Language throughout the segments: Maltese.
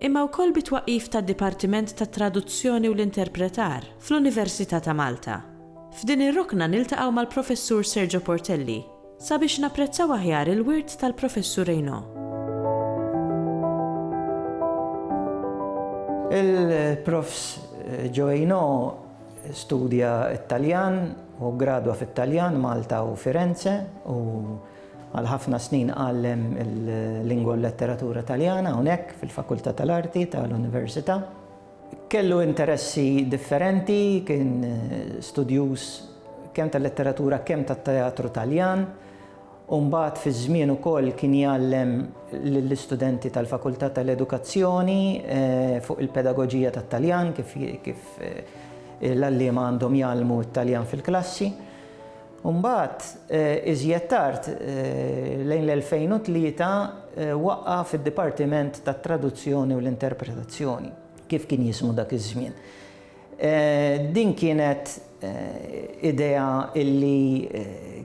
imma wkoll bit-twaqqif tad-Dipartiment tat-Traduzzjoni u l-Interpretar fl-Università ta' Malta. F'din ir-rokna niltaqgħu mal-Professur Sergio Portelli sabiex napprezzaw aħjar il-wirt tal-Professur Reynaud. Il-Profs. Joe Reynaud studja t-Taljan u ggradwa fit-Taljan, Malta u Firenze u Għal ħafna snin għallem il-Lingwa u l-Letteratura Taljana hawnhekk fil-Fakultà tal-Arti tal-Università. Kellu interessi differenti, kien studjuż kemm tal-letteratura kemm tat-teatru Taljan, u mbagħad fi żmien ukoll kien jgħallem lill-istudenti tal-Fakultà tal-Edukazzjoni fuq il-pedagoġija tat-Taljan, kif l-għalliema għandhom jgħallmu t-Taljan fil-klassi. Imbagħad, iżjed tard, lejn l-2003, waqqa' fid-Dipartiment tat-Traduzzjoni u l-Interpretazzjoni, kif kien jismu dak iż-żmien. Din kienet idea li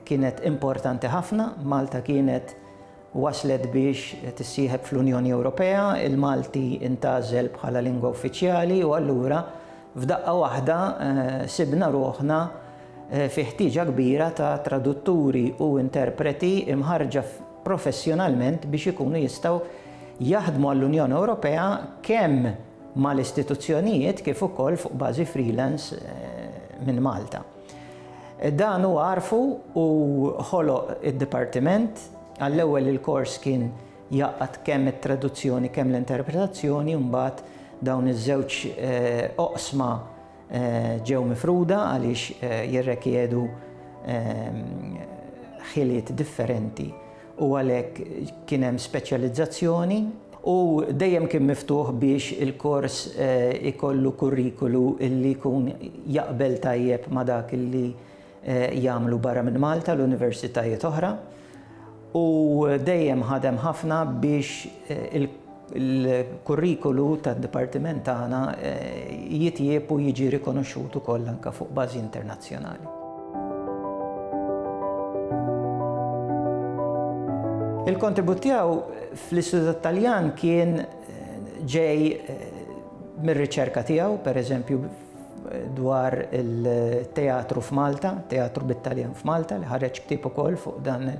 kienet importanti ħafna, Malta kienet, Waslet biex tissieħeb fl-Unjoni Ewropea, il-Malti ntgħażel bħala lingwa uffiċjali u allura f'daqqa waħda sibna ruħna fi ħtieġa kbira ta' tradutturi u interpreti mħarrġa professjonalment biex ikunu jistgħu jaħdmu għall-Unjoni Ewropea kemm mal-istituzzjonijiet kif ukoll fuq bażi freelance minn Malta. Dan huwa għarfu u ħoloq id-dipartiment. Għall-ewwel il-kors kien jgħaqqad kemm it-traduzzjoni kemm l-interpretazzjoni u mbagħad dawn iż-żewġ eh, oqsma eh, ġew mifruda għaliex eh, jirrekjedu ehm, ħiliet differenti u għalhekk kien hemm speċjalizzazzjoni u dejjem kien miftuħ biex il-kors ikollu kurrikulu li jkun jaqbel tajjeb ma' dak li jagħmlu barra minn Malta l-universitajiet oħra u dejjem ħadem ħafna biex il-kurrikulu tad-dipartiment tagħna jitjieb u jiġi rikonoxxut ukoll anke fuq bażi internazzjonali. Il-kontribut tiegħu fl-Istitut tat-Taljan kien ġej mir-riċerka tiegħu, pereżempju dwar it-teatru f'Malta, teatru bit-Taljan f'Malta, li ħareġ ktieb ukoll fuq dan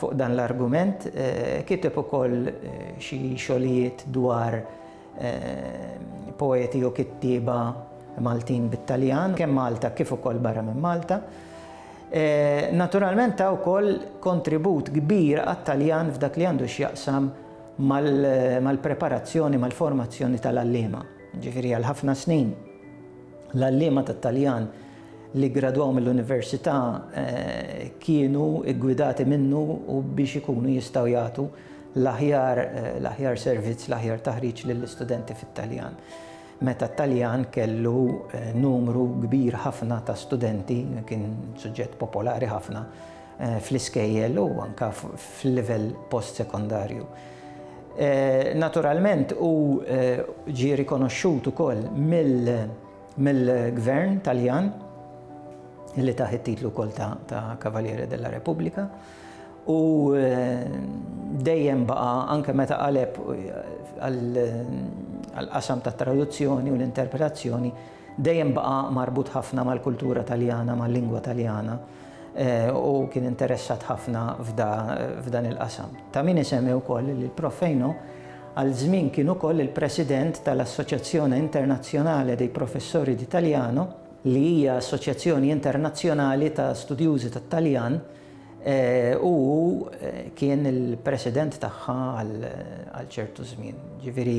Fuq dan l-argument kiteb ukoll xi xogħlijiet dwar poeti u kittieba Maltin bit-Taljan, kemm Malta kif ukoll barra minn Malta. Naturalment ta' wkoll kontribut kbir għat-Taljan f'dak li għandu x'jaqsam mal-preparazzjoni, mal-formazzjoni tal-għalliema. Ġifieri għal ħafna snin l-għalliema tat-Taljan li ggradwaw mill-università kienu ggwidati minnu u biex ikunu jistgħu jagħtu l-aħjar l-aħjar servizz, l-aħjar taħriġ lill-istudenti fit-Taljan. Meta t-Taljan kellu numru kbir ħafna ta' studenti, kien suġġett popolari ħafna fl-iskejjel u anke fil-livell post-sekondarju. Naturalment u ġie rikonoxxut ukoll mill- mill-Gvern Taljan li tah it-titlu wkoll ta' Cavaliere della Repubblika u dejjem baqa' anke meta qaleb għall-qasam tat-traduzzjoni u l-interpretazzjoni dejjem baqa' marbut ħafna mal-kultura Taljana, mal-lingwa Taljana u kien interessat ħafna f'dan il-qasam. Ta' min isemmi wkoll li l-Prof. Fejno Għal żmien kien ukoll il-President tal-Associazione Internazionale dei Professori di Taliano, li hija assoċjazzjoni internazzjonali ta' studjużi tat-Taljan, u hu kien il-President tagħha għal ċertu żmien. Ġifieri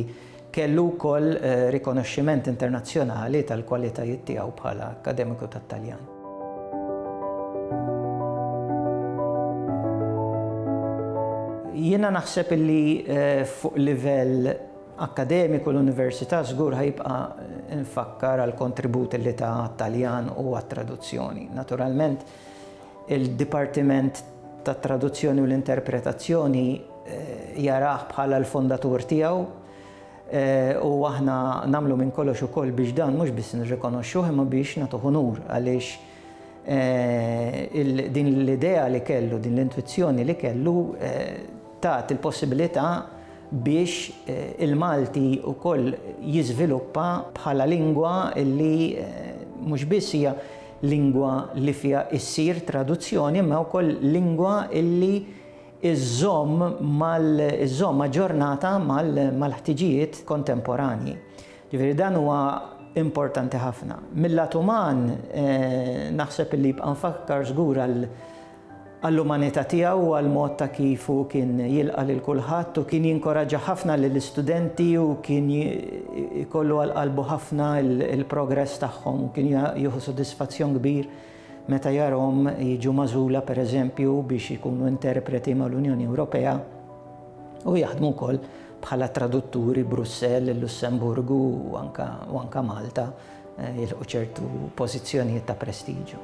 kellu wkoll rikonoxximent internazzjonali tal-kwalitajiet tiegħu bħala akkademiku tat-Taljan. Jiena naħseb illi eh, fuq livell akkademiku l-Università żgur ħajbqa nfakkar għal kontribut li ta' Taljan u għat-traduzzjoni. Naturalment, il-Dipartiment tat traduzzjoni u l-interpretazzjoni eh, jaraħ bħala l-fondatur tiegħu U aħna nagħmlu minn kollox ukoll biex dan mhux biss nirrikonoxxuh imma biex nagħtuh unur għaliex eh, din l-idea li kellu, din l-intwizzjoni li kellu eh, tat il-possibilità biex eh, il-Malti ukoll jiżviluppa bħala lingwa li mhux biss hija lingwa li fiha issir traduzzjoni imma wkoll lingwa illi iżżomm aġġornata mal-ħtiġijiet kontemporanji. Ġifieri dan huwa importanti ħafna. Mil-lat uman naħseb li jibqa' mfakkar żgur għall-umanità tiegħu u għall-mod ta' kif hu kien jilqa' lil kulħadd u kien jinkoraġġa ħafna lill-istudenti u kien ikollu għal qalbu ħafna l-progress tagħhom u kien jieħu sodisfazzjon kbir Meta jarahom jiġu magħżula, per eżempju, biex ikunu interpreti mal-Unjoni Ewropea u jaħdmu wkoll bħala tradutturi Brussell, il-Lussemburgu u anka, u anka Malta eh, jilħu ċertu pożizzjonijiet ta' prestiġju.